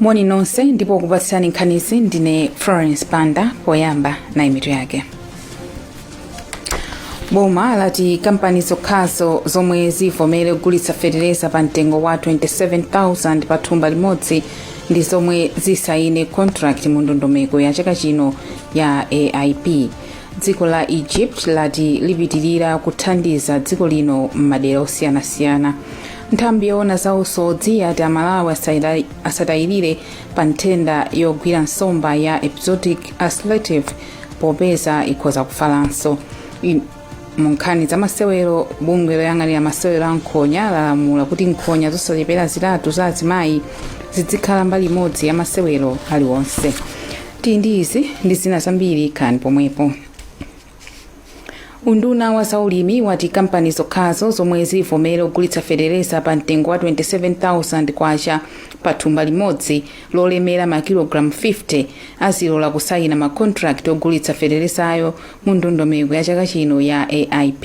moni nonse ndipo kupatsirani nkhanizi ndine florence banda poyamba nayi mitu yake boma lati kampani zokhazo zomwe zivomere kugulitsa fetereza pa mtengo wa 27000 pa thumba limodzi ndi zomwe zisayine contract mu ndondomeko ya chaka chino ya aip dziko la egypt lati lipitirira kuthandiza dziko lino m'madera osiyanasiyana nthambi yoona za usodzi yati amalawi asatayirire pa nthenda yogwira nsomba ya epizootic ulcerative popeza ikhoza kufalanso mu nkhani za masewero bungwe loyang'anira masewero a nkhonya lalamula kuti nkhonya zosachepera zitatu za azimayi zidzikhala mbali imodzi ya masewero aliwonse tili ndi izi ndi zina zambiri khalani pomwepo unduna wa zaulimi wati kampani zokhazo zomwe zivomere kugulitsa fetereza pa mtengo wa 27000 kwacha pa thumba limodzi lolemera makilogalamu 50 azilola kusayina makontrakiti ogulitsa feterezayo mu ndondomeko ya chaka chino ya aip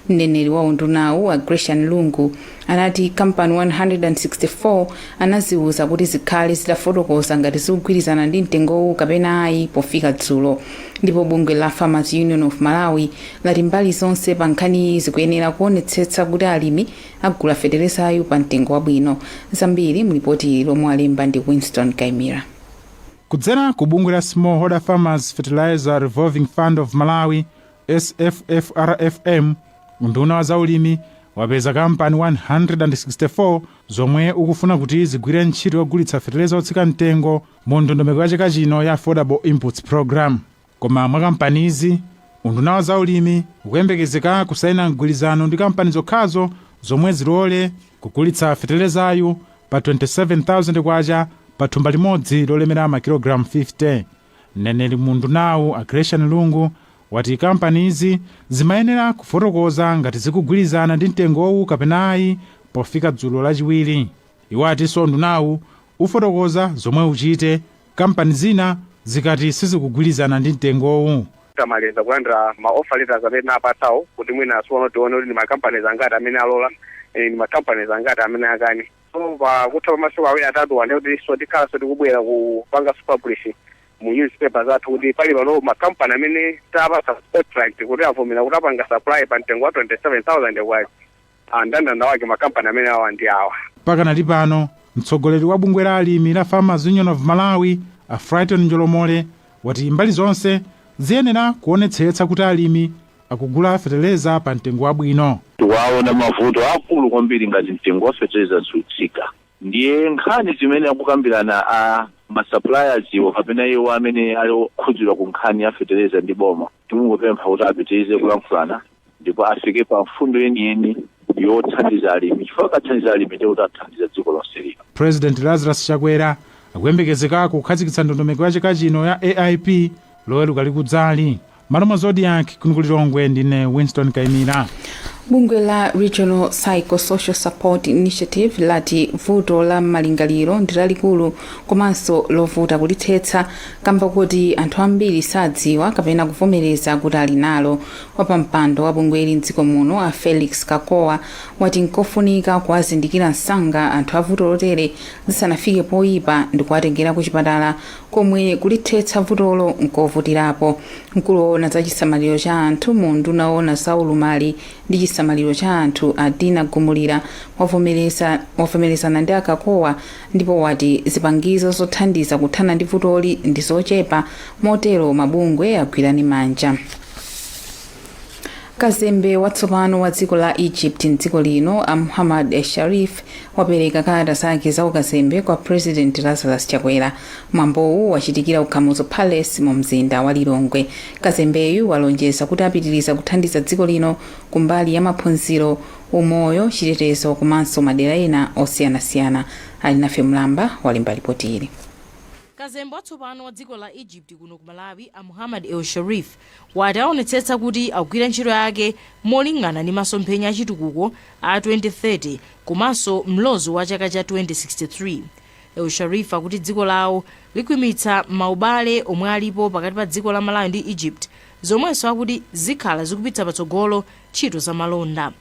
mneneri wa undunawu a gracian lungu anati kampani 164 anaziuza kuti zikhale zitafotokoza ngati zikugwirizana ndi mtengowu kapena ayi pofika dzulo ndipo bungwe la farmers union of malawi lati mbali zonse pa nkhaniyi zikuyenera kuonetsetsa kuti alimi agula feterezayu pa mtengo wabwino zambiri mlipoti lomwe walemba ndi winston kaimira kudzera ku bungwe la smallholder farmers fertilizer revolving fund of malawi SFFRFM unduna wa zaulimi wapeza kampani 164 zomwe ukufuna kuti zigwire ntchito yogulitsa feteleza otsika mtengo mu ndondomeko ya chaka chino ya affordable inputs program koma mwa kampanizi unduna wa zaulimi ukuyembekezeka kusaina mgwirizano ndi kampani zokhazo zomwe zilole kugulitsa fetelezayu pa 27000 kwacha pa thumba limodzi lolemera makilogalamu 50 Mneneri mu undunawu a Gracian Lungu wati kampanizi zimayenera kufotokoza ngati zikugwirizana ndi mtengowu kapena ayi pofika dzulo lachiwiri. Iwo atinso undunawu ufotokoza zomwe uchite kampani zina zikati sizikugwirizana ndi mtengowu. Tikamaliza kulandira ma offer letters amene tinawapatsawo kuti mwinanso tione kuti ndi ma companies angati amene alola and ndi ma companies angati amene akane. So pakutha pa masiku awiri atatuwa ndiye kutinso tikhalanso tikubwera kupanganso publish mu newspaper zathu kuti pali pano ma company amene tapatsa contract kuti avomera kuti apanga supply pa mtengo wa 27000 kwacha Ah, ndandanda wake ma company amene awa ndi awa pakanali pano mtsogoleri wa bungwe la alimi la farmers union of malawi a frighton njolomole wati mbali zonse ziyenera kuonetsetsa kuti alimi akugula fetereza pa mtengo wabwino. Tikuwaona mavuto aakulu kwambiri ngati mtengo wa fetereza sutsika ndiye nkhani zimene akukambirana a masuppliers wo kapena iwo amene ali okhudzidwa ku nkhani ya fetereza ndi boma, tikungopempha kuti apitirize kulankhulana ndipo afike pa mfundo yeniyeni yothandiza alimi chifukwa akathandiza alimi ndiye kuti athandiza dziko lonse lino. Purezidenti Lazarus Chakwera akuyembekezeka kukhazikitsa ndondomeko ya chaka chino ya AIP Loweruka likudzali. Malo mwa Zodiak kuno ku Lilongwe ndine Winston Kaimira. Bungwe la regional psychosocial support initiative lati vuto la malingaliro ndi lalikulu komanso lovuta kulithetsa kamba koti anthu ambiri sadziwa kapena kuvomereza kuti ali nalo wapampando wa bungweli mdziko muno a felix kakowa wati nkofunika kuwazindikira msanga anthu a vuto lotere lisanafike poyipa ndi kuwatengera ku chipatala komwe kulithetsa vutolo n'kovutirapo. Mkulu woona za chisamaliro cha anthu mu unduna oona za ulumali ndi chisamaliro cha anthu a Dina Gumulira wavomerezana ndi a Kakowa ndipo wati zipangizo zothandiza kuthana ndi vutoli ndi zochepa motero mabungwe agwirane manja. kazembe watsopano wa dziko la egypt mdziko lino a muhammad el sharif wapereka kalata zake za ukazembe kwa president lazarus chakwera mwambowu wachitikira ku kamuzu palace mu mzinda wa lilongwe kazembeyu walonjeza kuti apitiriza kuthandiza dziko lino kumbali ya maphunziro umoyo chitetezo komanso madera ena osiyanasiyana alinafe mlamba walemba lipoti ili kazembe watsopano wa dziko la egypt kuno ku malawi a muhammad el sharif wati aonetsetsa kuti akugwira ntchito yake molingana ndi masomphenya a chitukuko a 2030 komanso mlozo wa chaka cha 2063. El Sharif akuti dziko lawo likhwimitsa maubale omwe alipo pakati pa dziko la Malawi ndi Egypt zomwenso akuti zikhala zikupitsa patsogolo ntchito za malonda.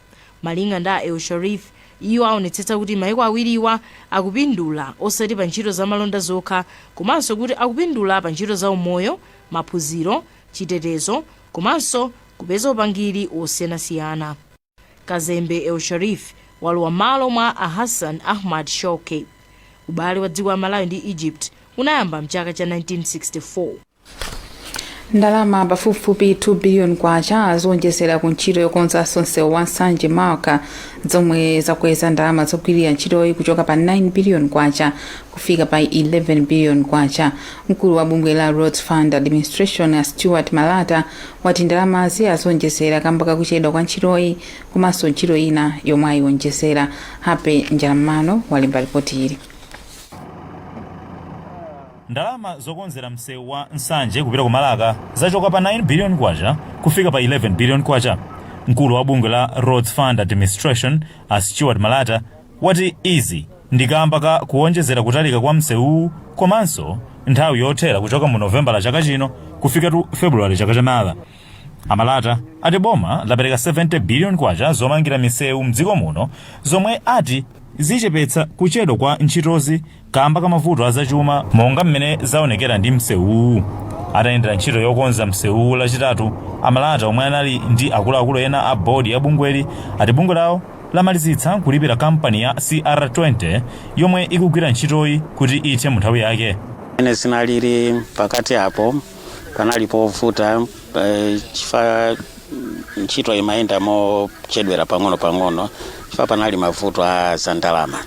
Malinga ndi a El Sharif, iwo aonetsetsa kuti maiko awiriwa akupindula osati pa ntchito za malonda zokha komanso kuti akupindula pa ntchito za umoyo, maphunziro, chitetezo komanso kupeza upangiri wosiyanasiyana. Kazembe El Sharif walowa mmalo mwa a Hassan Ahmad Shawky. Ubale wa dziko la Malawi ndi Egypt unayamba mchaka cha 1964. ndalama pafupifupi 2 biliyoni kwacha zowonjezera ku ntchito yokonzanso msewu wa nsanje marka zomwe zakweza ndalama zogwirira ntchitoyi kuchoka pa 9 biliyoni kwacha kufika pa 11 billion kwacha. Mkulu wa bungwe la Roads Fund Administration a Stewart Malata wati ndalamazi azionjezera kamba kakuchedwa kwa ntchitoyi komanso ntchito ina yomwe ayionjezera. Happy Njalam'mano walemba ripoti ili. Ndalama zokonzera msewu wa Nsanje kupita ku Marka zachoka pa 9 billion kwacha kufika pa 11 billion kwacha. Mkulu wa bungwe la Roads Fund Administration a Stewart Malata wati izi ndi kamba ka kuonjezera kutalika kwa msewuwu komanso nthawi yothera kuchoka mu novembala chaka chino kufikatu februwale chaka chamawa a malata ati boma lapereka 70 biliyoni kwacha zomangira misewu mdziko muno zomwe ati zichepetsa kuchedwa kwa ntchitozi kamba ka mavuto a zachuma monga mmene zaonekera ndi msewuwu. Atayendera ntchito yokonza msewuwu Lachitatu, a Malata omwe anali ndi akuluakulu ena a board ya bungweli ati bungwe lawo lamalizitsa kulipira kampani ya CR20 yomwe ikugwira ntchitoyi kuti ithe munthawi yake. Mmene zinalili pakati apo panali povuta eh, chifukwa ntchito imayenda mochedwera pang'ono pang'ono chifukwa panali mavuto a zandalama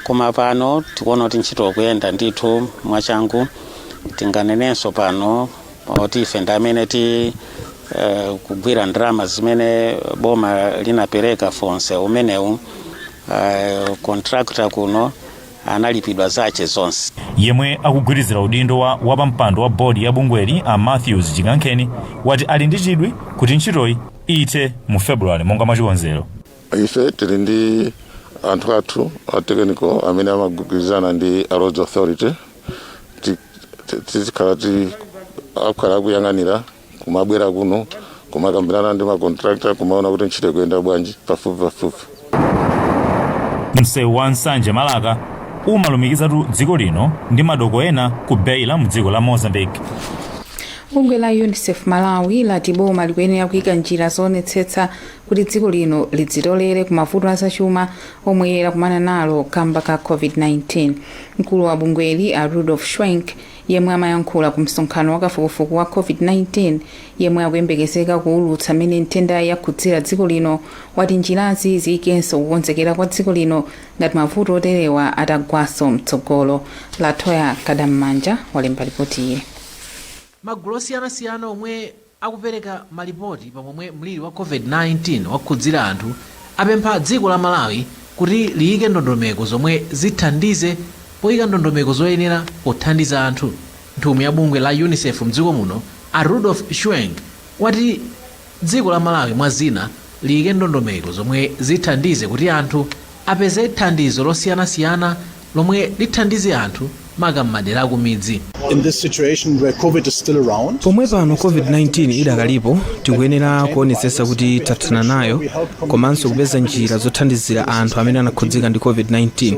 koma pano tikuona kuti ntchito ikuyenda ndithu mwachangu tinganenenso pano kuti ife ndi amene ti eh, kugwira ndalama zimene boma linapereka for msewu umenewu eh, contractor kuno analipidwa zache zonse yemwe akugwirizira udindo wa wapampando wa bodi ya bungweli a matthews chikankheni wati ali ndi chidwi kuti ntchitoyi ithe mu februwale monga mwachikonzero ife tili ndi anthu athu a technical amene amagwirizana ndi a roads authority Ti- ti- tizikhala ti akhala akuyang'anira kumabwera kuno kumakambirana ndi macontractor kumaona kuti ntchito ikuyenda bwanji pafupi pafupi msewu wa nsanje marka umalumikizatu dziko lino ndi madoko ena ku beira mu dziko la mozambique bungwe la unicef malawi lati boma likuyenera kuyika njira zoonetsetsa kuti dziko lino lidzitolere ku mavuto azachuma omwe lakumana nalo kamba ka covid-19 mkulu wa bungweli a rudolf schwenk yemwe amayankhula ku msonkhano wakafukufuku wa covid-19 yemwe akuyembekezeka kuwulutsa mmene nthendayi yakhudzira dziko lino wati njirazi ziyikenso kukonzekera kwa dziko lino ngati mavuto oterewa atagwanso mtsogolo latoya kadammanja walemba lipoti ili magulu osiyanasiyana omwe Akupereka malipoti pa momwe mliri wa Covid-19 wakhudzira anthu, apempha dziko la Malawi kuti liyike ndondomeko zomwe zithandize poyika ndondomeko zoyenera pothandiza anthu. Nthumwi ya bungwe la Unicef mdziko muno a Rudolf Schwenk wati dziko la Malawi mwa zina liyike ndondomeko zomwe zithandize kuti anthu apeze thandizo losiyanasiyana lomwe lithandize anthu maka m'madera akumidzi. in this situation where COVID is still around. Pomwe pano COVID-19 idakalipo, tikuyenera kuonetsetsa kuti tathana nayo komanso kupeza njira zothandizira anthu amene anakhudzika ndi COVID-19,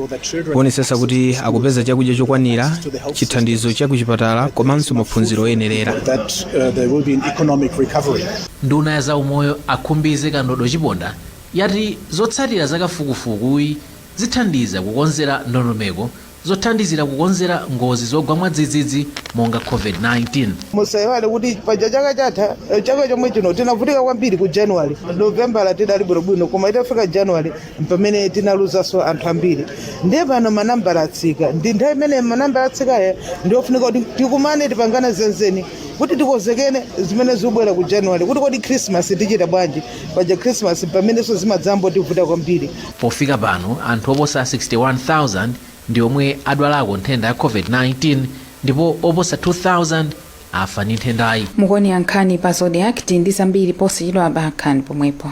kuonetsetsa kuti akupeza chakudya chokwanira, chithandizo cha kuchipatala komanso maphunziro oyenerera. that uh, there will be an economic recovery. nduna ya zaumoyo a Khumbize Kandodo Chiponda yati zotsatira za kafukufukuyi Zithandiza kukonzera ndondomeko zothandizira kukonzera ngozi zogwa mwadzidzidzi monga Covid-19. Musaiwale kuti paja chaka chatha, eh, chaka chomwe chino tinavutika kwambiri ku January. Novembala tidali bwinobwino koma itafika January mpamene tinaluzanso anthu ambiri. Ndiye pano manambala atsika. Ndi nthawi imene manambala atsikayi ndiyofunika kuti tikumane tipangane zenzeni kuti tikonzekele zimene zikubwera ku January kuti kodi Christmas tichita bwanji? Paja Christmas mpamenenso zimadzambotivuta kwambiri. Pofika pano, anthu oposa 61,000 ndi omwe adwalako nthenda ya Covid-19 ndipo oposa 2,000 afa ndi nthendayi. Mukuonera nkhani pa Zodiak tili ndi zambiri posachedwapa bakhalani pomwepo.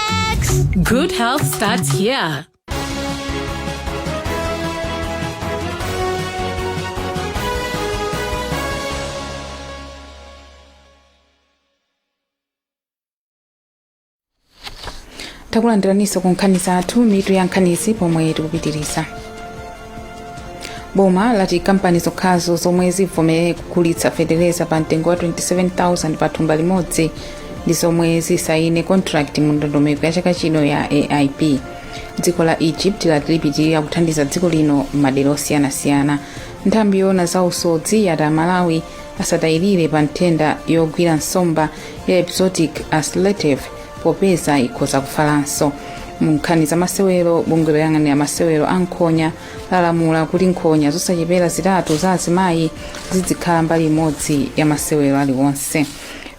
Good health starts here. takulandiraniso ku nkhani zathu mitu ya nkhanizi pomwe tikupitiriza boma lati kampani zokhazo zomwe zivomere kugulitsa fetereza pa mtengo wa 27000 pa thumba limodzi ndi zomwe zisayine contract mu ndondomeko ya chaka chino ya aip dziko la egypt lati lipitirira kuthandiza dziko lino m'madera osiyanasiyana nthambi yoona za usodzi yati amalawi asatayirire pa nthenda yogwira nsomba ya epizootic ulcerative popeza ikhoza kufalanso mu nkhani za masewero bungwe loyang'anira masewero a nkhonya lalamula kuti nkhonya zosachepera zitatu za azimayi zidzikhala mbali imodzi ya masewero aliwonse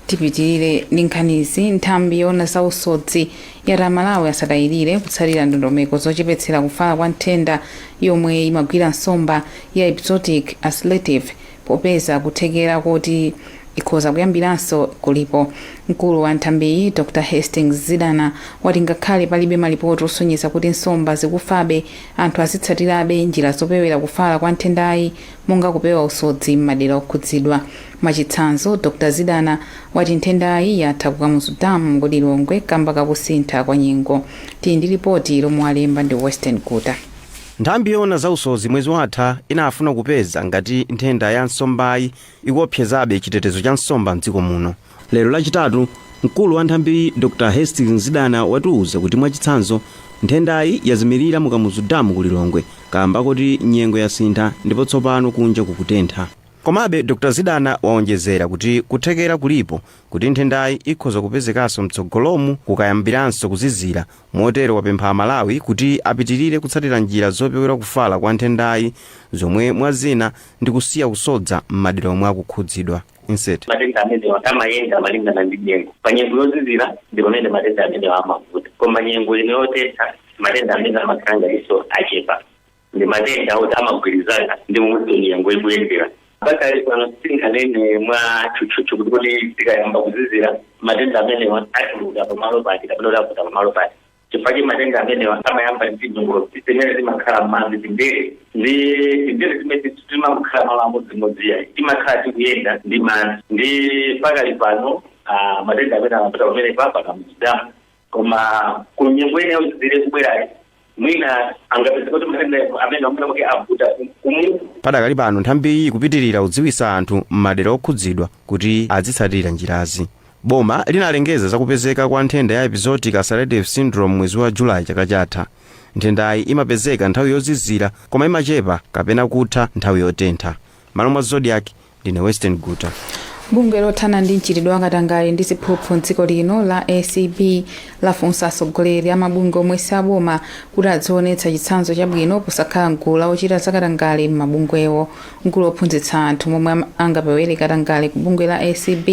tipitirire ndi nkhanizi nthambi yoona za usodzi yati amalawi asatayirire kutsatira ndondomeko zochepetsera kufala kwa nthenda yomwe imagwira nsomba ya epizootic ulcerative Popeza kuthekera koti ikhoza kuyambiranso kulipo, mkulu wa nthambiyi, Dr Hastings Zidana, wati ngakhale palibe malipoti osonyeza kuti nsomba zikufabe, anthu azitsatirabe njira zopewera kufala kwa nthendayi monga kupewa usodzi m'madera okhudzidwa. Mwachitsanzo, Dr Zidana wati nthendayi yatha ku Kamuzu Dam ku Lilongwe kamba ka kusintha kwa nyengo. Tili ndi lipoti lomwe walemba ndi Western Guta. Nthambi yoona za usodzi mwezi watha inafuna kupeza ngati nthenda ya nsombayi ikuopsezabe chitetezo cha nsomba m'dziko muno. Lero Lachitatu, mkulu wa nthambiyi Dr Hastings Zidana watiuza kuti mwachitsanzo, nthendayi yazimilira mu Kamuzu Dam ku Lilongwe kaamba koti nyengo yasintha ndipo tsopano kunja kukutentha. Komabe, Dr Zidana waonjezera kuti kuthekera kulipo kuti nthendayi ikhoza kupezekanso mtsogolomu kukayambiranso kuzizira Motero wapempha Amalawi kuti apitirire kutsatira njira zopewera kufala kwa nthendayi zomwe mwa zina ndi kusiya kusodza m'madera omwe akukhudzidwa. Matenda amenewa amayenda malingana ndi nyengo. Pa nyengo yozizira ndi pamene matenda amenewa amavuta. Koma nyengo ino yotentha, matenda amenewa amakhala ngatinso achepa. ndi matenda oti amagwirizana ndi momwe nyengo ikuyendera pakali pano sitinganene mwa tchutchutchu kuti kuti tikayamba kuzizira matenda amenewa atuluka pamalo pati kapena kuti avuta pamalo pati chifukwa choti matenda amenewa amayamba ndi tinyongolotsi timene timakhala m'madzi tindere ndiye tindere timeneti sitimakhala malo amodzimodzi ayi timakhala tikuyenda ndi madzi ndiye pakali pano ah, matenda amene amavuta pamene pa pa Kamuzu Dam Koma ku nyengo ina yozizira ikubwerayi, mwina tingapeze kuti matendawo amene mwina mwake avuta kumu. Padakali pano nthambiyi ikupitilira kudziwitsa anthu m'madera okhudzidwa kuti adzitsatira njirazi. Boma linalengeza za kupezeka kwa nthenda ya Epizootic Ulcerative Syndrome mwezi wa July chaka chatha. Nthendayi imapezeka nthawi yozizira koma imachepa kapena kutha nthawi yotentha. M'malo mwa Zodiak, ndine western guta bungwe lothana ndi mchitidwe wakatangale ndi ziphuphu mdziko lino la acb lafunsa atsogoleri a mabungwe omwe si aboma kuti adzionetsa chitsanzo chabwino posakhala mgulu la ochita zakatangale m'mabungwewo mkulu ophunzitsa anthu momwe angapewere katangale ku bungwe la acb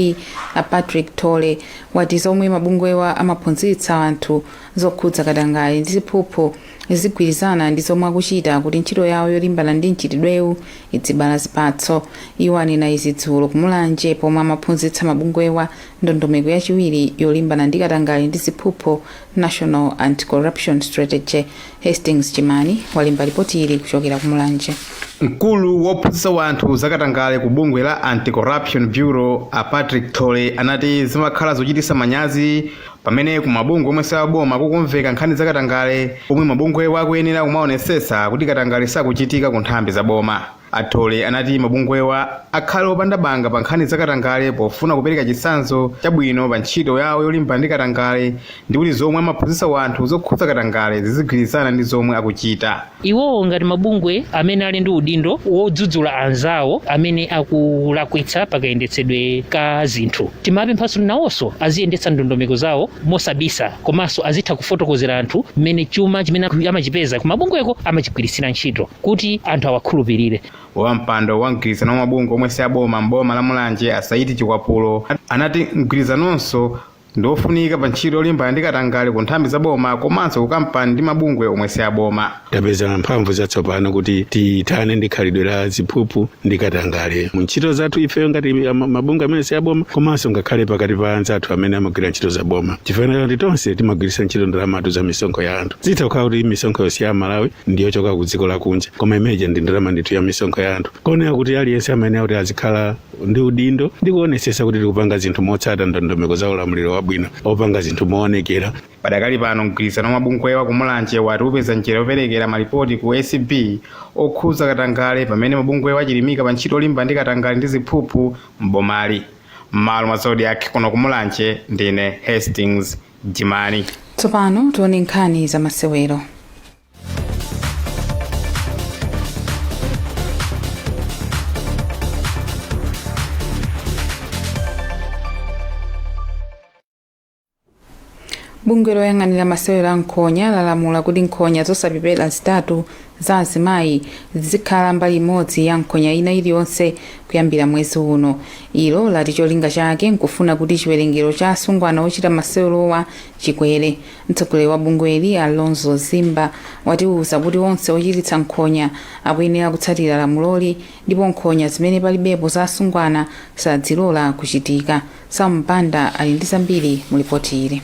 a patrick thole wati zomwe mabungwewa amaphunzitsa anthu zokhudza katangale ndi ziphuphu zizigwirizana ndi zomwe akuchita kuti ntchito yawo yolimbana ndi mchitidwewu idzibala zipatso. Iwo anena izi dzulo ku Mulanje pomwe amaphunzitsa mabungwewa ndondomeko yachiwiri yolimbana ndi katangale ndi ziphuphu, National Anti-Corruption Strategy. Hastings Jimani walemba lipoti ili kuchokera ku Mulanje. Mkulu wophunzitsa wanthu za katangale ku bungwe la Anti-Corruption Bureau a Patrick Thole anati zimakhala zochititsa manyazi Pamene ku mabungwe omwe siaboma kukumveka nkhani za katangale pomwe mabungwewa akuyenera kumaonesetsa kuti katangale sakuchitika ku nthambi za boma. A Thole anati mabungwewa akhale opanda banga pa nkhani za katangale pofuna kupereka chitsanzo chabwino pa ntchito yawo yolimbana ndi katangale ndi kuti zomwe amaphunzitsa wanthu zokhudza katangale zizigwirizana ndi zomwe akuchita. Iwowo ngati mabungwe amene ali ndi udindo wodzudzula anzawo amene akulakwitsa pakayendetsedwe ka zinthu, timawapemphanso kuti nawonso aziyendetsa ndondomeko zawo mosabisa komanso azitha kufotokozera anthu mmene chuma chimene amachipeza kumabungweko amachigwiritsira ntchito kuti anthu awakhulupirire. Wampando wa mgwirizano wa mabungwe omwe si aboma m'boma la Mulanje a Saidi Chikwapulo anati mgwirizanonso ndi ofunika pa ntchito yolimbana ndi katangale ku nthambi za boma komanso ku kampani ndi mabungwe omwe si aboma tapeza mphamvu zatsopano kuti tithane ndi khalidwe la ziphuphu ndi katangale mu ntchito zathu ifeyo ngati mabungwe amene si aboma komanso ngakhale pakati pa anzathu amene amagwira ntchito za boma chifukwa kuti tonse timagwiritsa ntchito ndalamatu za misonkho ya anthu zitha kukhala kuti misonkho yonse ya malawi ndiyochoka ku dziko lakunja koma imeneja ndi ndalama ndithu ya misonkho ya anthu kuoneka kuti aliyense amayenera kuti azikhala ndi udindo ndi kuonetsetsa kuti tikupanga zinthu motsata ndondomeko za ulamuliro wabwino opanga zinthu moonekera padakali pano mgwirizano wa mabungwewa ku mulanje wati upeza njira yoperekera malipoti ku acb okhudza katangale pamene mabungwewa achilimika pa ntchito yolimbana ndi katangale ndi ziphuphu m'bomali m'malo mwa zodiak kuno ku mulanje ndine hastings jimani tsopano tione nkhani za masewero bungwe loyang'anira masewero a nkhonya lalamula kuti nkhonya zosachepera zitatu za azimayi zizikhala mbali imodzi ya nkhonya ina iliyonse kuyambira mwezi uno ilo lati cholinga chake nkufuna kuti chiwerengero cha asungwana ochita masewerowa chikwere Mtsogoleri wa bungweli, a Lonzoe Zimba, watiuza kuti onse ochititsa nkhonya akuyenera kutsatira lamuloli ndipo nkhonya zimene palibepo za asungwana sadzilola kuchitika. Sam Banda ali ndi zambiri mu lipoti ili.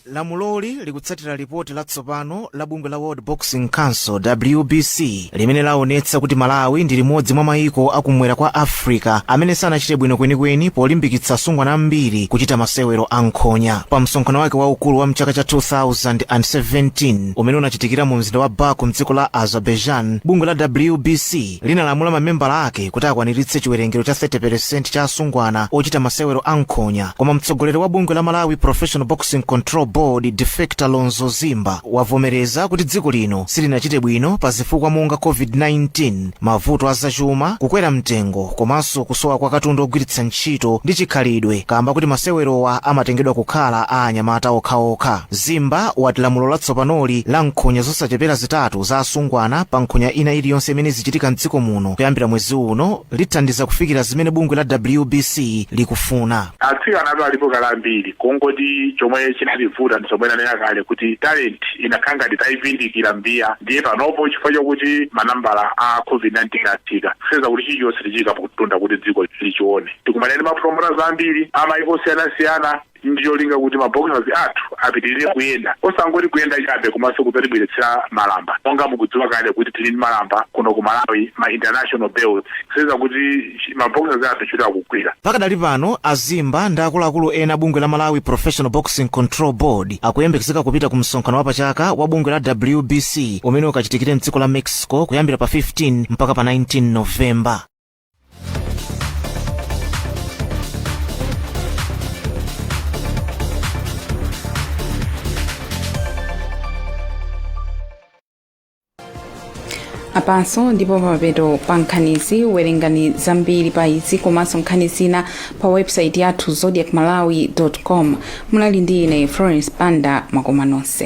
Lamuloli likutsatira lipoti latsopano la bungwe la World Boxing Council, WBC, limene laonetsa kuti malawi ndi limodzi mwa mayiko akumwera kwa africa amene sanachite bwino kwenikweni polimbikitsa asungwana ambiri kuchita masewero a nkhonya pa msonkhano wake waukulu wa mchaka cha 2017 umene unachitikira mu mzinda wa baku mdziko la azerbaijan bungwe la wbc linalamula mamembala ake kuti akwaniritse chiwerengero cha 30% cha asungwana ochita masewero a nkhonya koma mtsogoleri wa bungwe la malawi professional boxing control board de facto a lonzoe zimba wavomereza kuti dziko lino silinachite bwino pa zifukwa monga covid-19 mavuto a zachuma kukwera mtengo komanso kusowa kwa katundu ogwiritsa ntchito ndi chikhalidwe kamba kuti masewerowa amatengedwa kukhala a anyamata okhaokha zimba wati lamulo latsopanoli la nkhonya zosachepera zitatu za asungwana pa nkhonya ina iliyonse imene izichitika mdziko muno kuyambira mwezi uno lithandiza kufikira zimene bungwe la wbc likufuna Atsikanatu alipo kale ambiri kungoti chomwe chinatiuvuta ndi zomwe ndanena kale kuti talent inakhala ngati taivindikira mbiya ndiye panopo chifukwa chokuti manambala a Covid-19 atsika kusonyeza kuti chilichonse tichiyika pamtunda kuti dziko lichione. Tikumane ndi ma promoters ambiri a mayiko osiyanasiyana ndi cholinga kuti ma boxers athu apitirire kuyenda osangoti kuyenda chabe komanso kudzatibweretsera malamba monga mukudziwa kale kuti tili ndi malamba kuno ku Malawi ma international belts kusonyeza kuti ma boxers athu ntchito akugwira Pakadali pano, a Zimba ndi akuluakulu ena a bungwe la Malawi Professional Boxing Control Board akuyembekezeka kupita ku msonkhano wapachaka wa bungwe la WBC umene ukachitikire mdziko la Mexico kuyambira pa 15 mpaka pa 19 November. apanso ndipo pamapeto pa nkhanizi werengani zambiri pa izi komanso nkhani zina pa website yathu zodiak malawi com munali ndi ine florence banda makoma nonse